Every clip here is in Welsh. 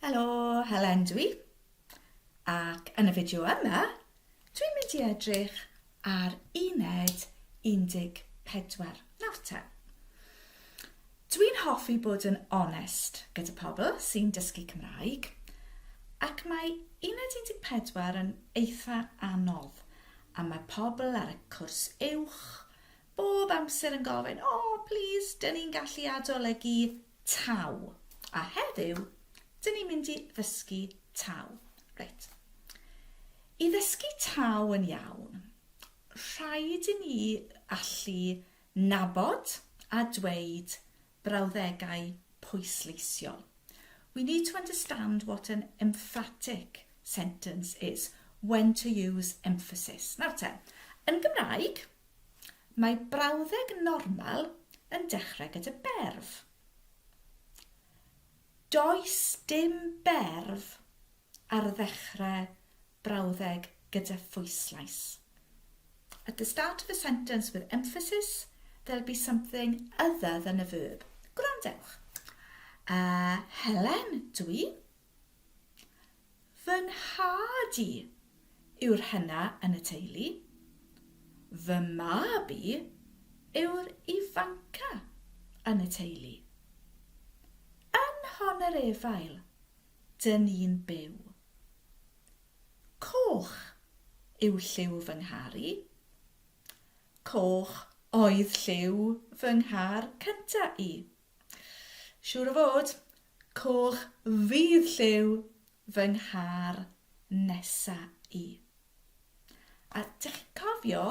Helo, Helen dwi. Ac yn y fideo yma, dwi'n mynd i edrych ar uned 14 nawr te. Dwi'n hoffi bod yn onest gyda pobl sy'n dysgu Cymraeg, ac mae uned 14 yn eitha anodd, a mae pobl ar y cwrs uwch bob amser yn gofyn, O, plîs, dyn ni'n gallu adolygu taw, a heddiw dyn ni'n mynd i ddysgu taw. Reit. I ddysgu taw yn iawn, rhaid i ni allu Nabod a dweud brawddegau pwysleisiol, We need to understand what an emphatic sentence is, when to use emphasis. Nawr te, yn Gymraeg, mae brawddeg normal yn dechrau gyda berf. Does dim berf ar ddechrau brawddeg gyda phwyslais. At the start of a sentence with emphasis, there'll be something other than a verb. Gwrandewch. Uh, Helen, dwi. Fy nhad i yw'r hena yn y teulu. Fy mab i yw'r ifanca yn y teulu. Yn hon yr efail dŷn ni'n byw. Coch yw lliw fy nghar i. Coch oedd lliw fy nghar cynta i. Siŵr o fod, coch fydd lliw fy nghar nesa i. A dych chi'n cofio,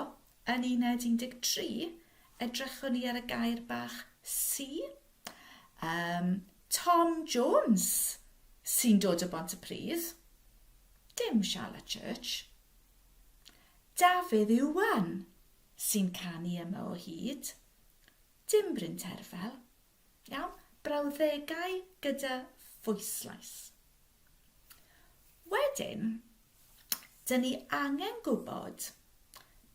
yn uned 13, edrychwn ni ar y gair bach 'si'? Yym, Tom Jones sy'n dod o Bont-y-pridd, dim Charlotte Church. Dafydd Iwan sy'n canu yma o hyd. Dim Bryn Terfel. Iawn? Brawddegau gyda phwyslais. Wedyn, dyn ni angen gwybod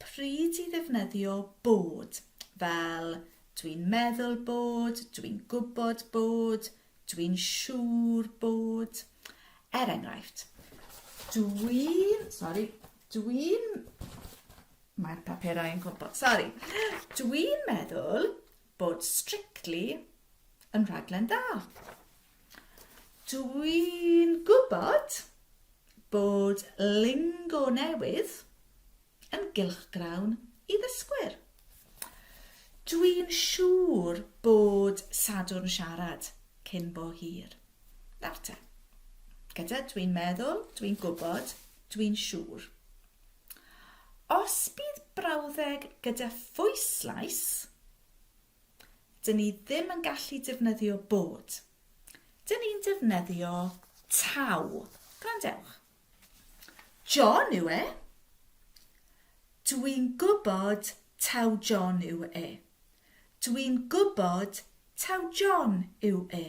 pryd i ddefnyddio bod, fel dwi'n meddwl bod, dwi'n gwybod bod, dwi'n siŵr bod. Er enghraifft, dwi'n, sori, dwi'n Mae'r paperau yn gwmpo. Sori. Dwi'n meddwl bod Strictly yn rhaglen dda. Dwi'n gwybod bod lingo newydd yn gylchgrawn i ddysgwyr. Dwi'n siŵr bod Sadwrn Siarad cyn bo hir. Nawr te. Gyda dwi'n meddwl, dwi'n gwybod, dwi'n siŵr. Os bydd brawddeg gyda phwyslais, dyn ni ddim yn gallu defnyddio bod. Dyn ni'n defnyddio taw. Gwrandewch. John yw e. Dwi'n gwybod taw John yw e. Dwi'n gwybod taw John yw e.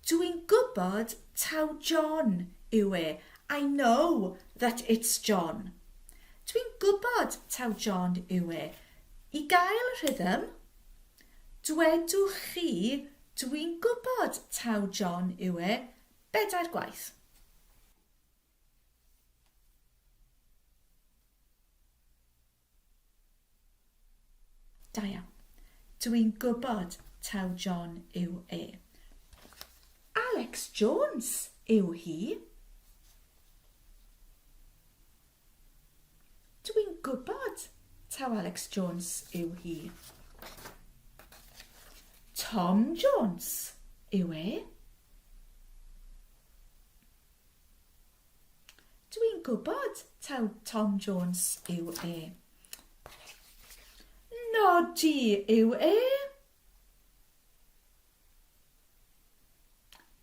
Dw i'n gwybod taw John yw e, I know that it's John. Dw i'n gwybod taw John yw e. I gael rhythm, dwedwch chi Dw i'n gwybod taw John yw e bedair gwaith. Da iawn. Dw i'n gwybod taw John yw e. Alex Jones yw hi. Dw i'n gwybod taw Alex Jones yw hi. Tom Jones yw e. Dw i'n gwybod taw Tom Jones yw e. Nodi yw e.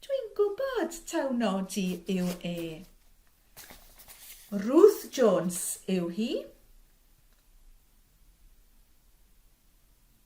Dw i'n gwybod taw Nodi yw e. Ruth Jones yw hi.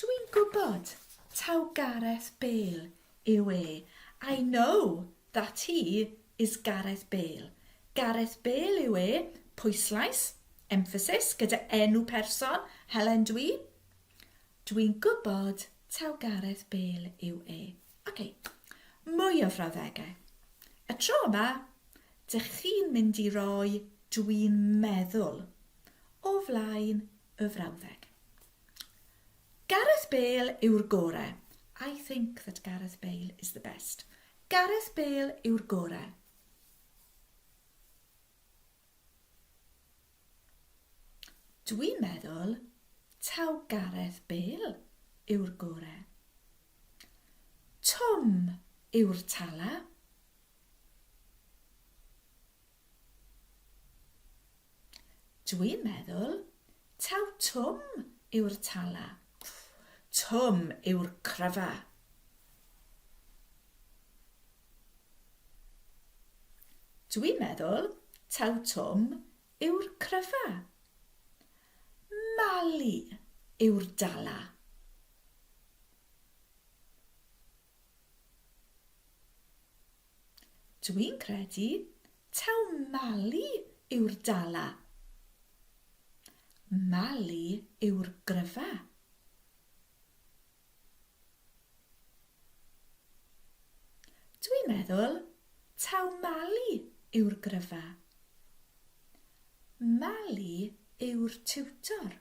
Dw i'n gwybod taw Gareth Bale yw e, I know that he is Gareth Bale. Gareth Bale yw e, pwyslais, emphasis, gyda enw person, Helen Dw i. Dw i'n gwybod taw Gareth Bale yw e. OK, mwy o frawddegau. Y tro yma, dych chi'n mynd i roi dw i'n meddwl o flaen y frawddeg. Gareth Bale yw'r gore. I think that Gareth Bale is the best. Gareth Bale yw'r gore. Dwi'n meddwl taw Gareth Bale yw'r gore. Tom yw'r tala. Dwi'n meddwl taw Twm yw'r Tala. Twm yw'r cryfa. Dwi'n meddwl taw Twm yw'r cryfa. Mali yw'r Dala. Dw i'n credu taw Mali yw'r Dala. Mali yw'r gryfa. Dw i'n meddwl taw Mali yw'r gryfa. Mali yw'r tiwtor.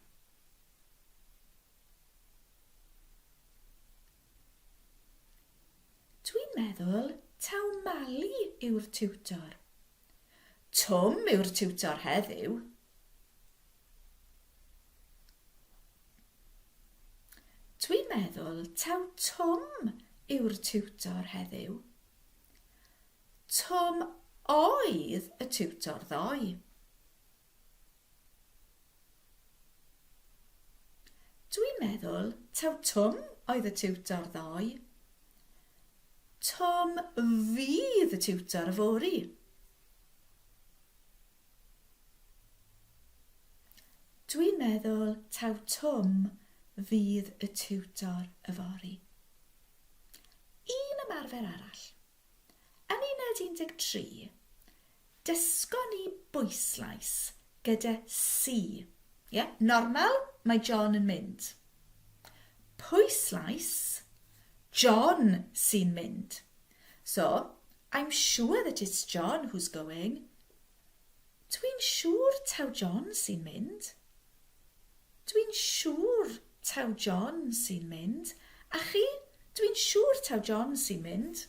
Dwi'n meddwl taw Mali yw'r tiwtor. Twm yw'r tiwtor heddiw. Dwi'n meddwl taw Twm yw'r tiwtor heddiw. Twm oedd y tiwtor ddoe. Dwi'n meddwl taw Twm oedd y tiwtor ddoe. Twm fydd y tiwtor yfory. Dwi'n meddwl taw Twm fydd y tiwtor yfory. Un ymarfer arall. Yn uned 13, Dysgon ni bwyslais gyda si. Ie, normal, mae John yn mynd. Pwyslais, John sy'n mynd. So, I'm sure that it's John who's going. Dwi'n siŵr taw John sy'n mynd. Dwi'n siŵr taw John sy'n mynd. A chi? Dwi'n siŵr taw John sy'n mynd.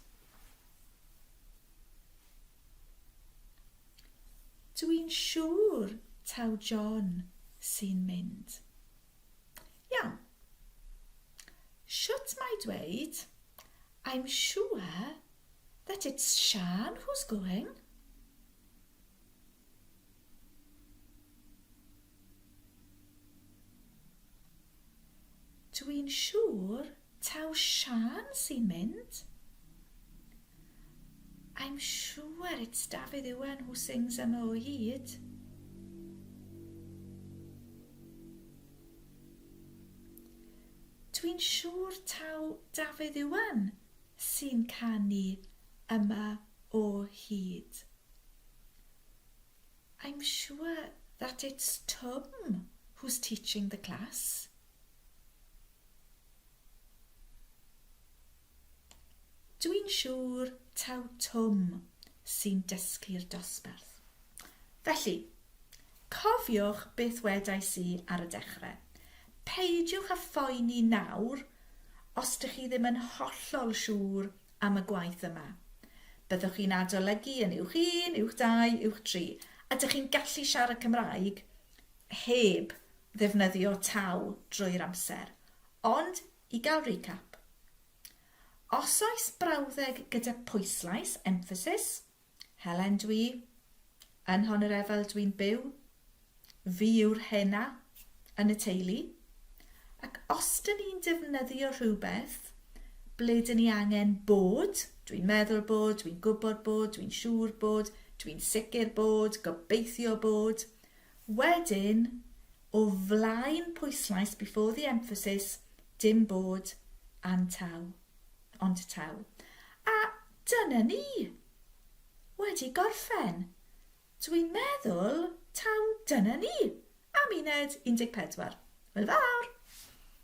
Dwi'n siŵr taw John sy'n mynd. Iawn. Shwt mae dweud, I'm sure that it's Sian who's going? Dw i'n siŵr taw Siân sy'n mynd. I'm sure it's Dafydd Iwan who sings am o hyd. Dw i'n siŵr taw Dafydd Iwan sy'n canu yma o hyd. I'm sure that it's Twm who's teaching the class. Dw i'n siŵr taw Twm sy'n dysgu'r dosbarth. Felly, cofiwch beth wedais i ar y dechrau. Peidiwch â phoeni nawr os dych chi ddim yn hollol siŵr am y gwaith yma. Byddwch chi'n adolygu yn Uwch Un, Uwch Dau, Uwch Tri. Ydych chi'n gallu siarad Cymraeg heb ddefnyddio taw drwy'r amser? Ond, i gael recap. Os oes brawddeg gyda pwyslais, emphasis, Helen dw i, yn hon yr efel dw i'n byw, fi yw'r hena yn y teulu, ac os dyn ni'n defnyddio rhywbeth, ble dyn ni angen bod, dw i'n meddwl bod, dw i'n gwybod bod, dw i'n siŵr bod, dw i'n sicr bod, gobeithio bod. Wedyn, o flaen pwyslais before the emphasis, dim bod, antaw. Ond taw. A dyna ni! Wedi gorffen. Dwi'n meddwl taw dyna ni am uned 14. Hwyl fawr!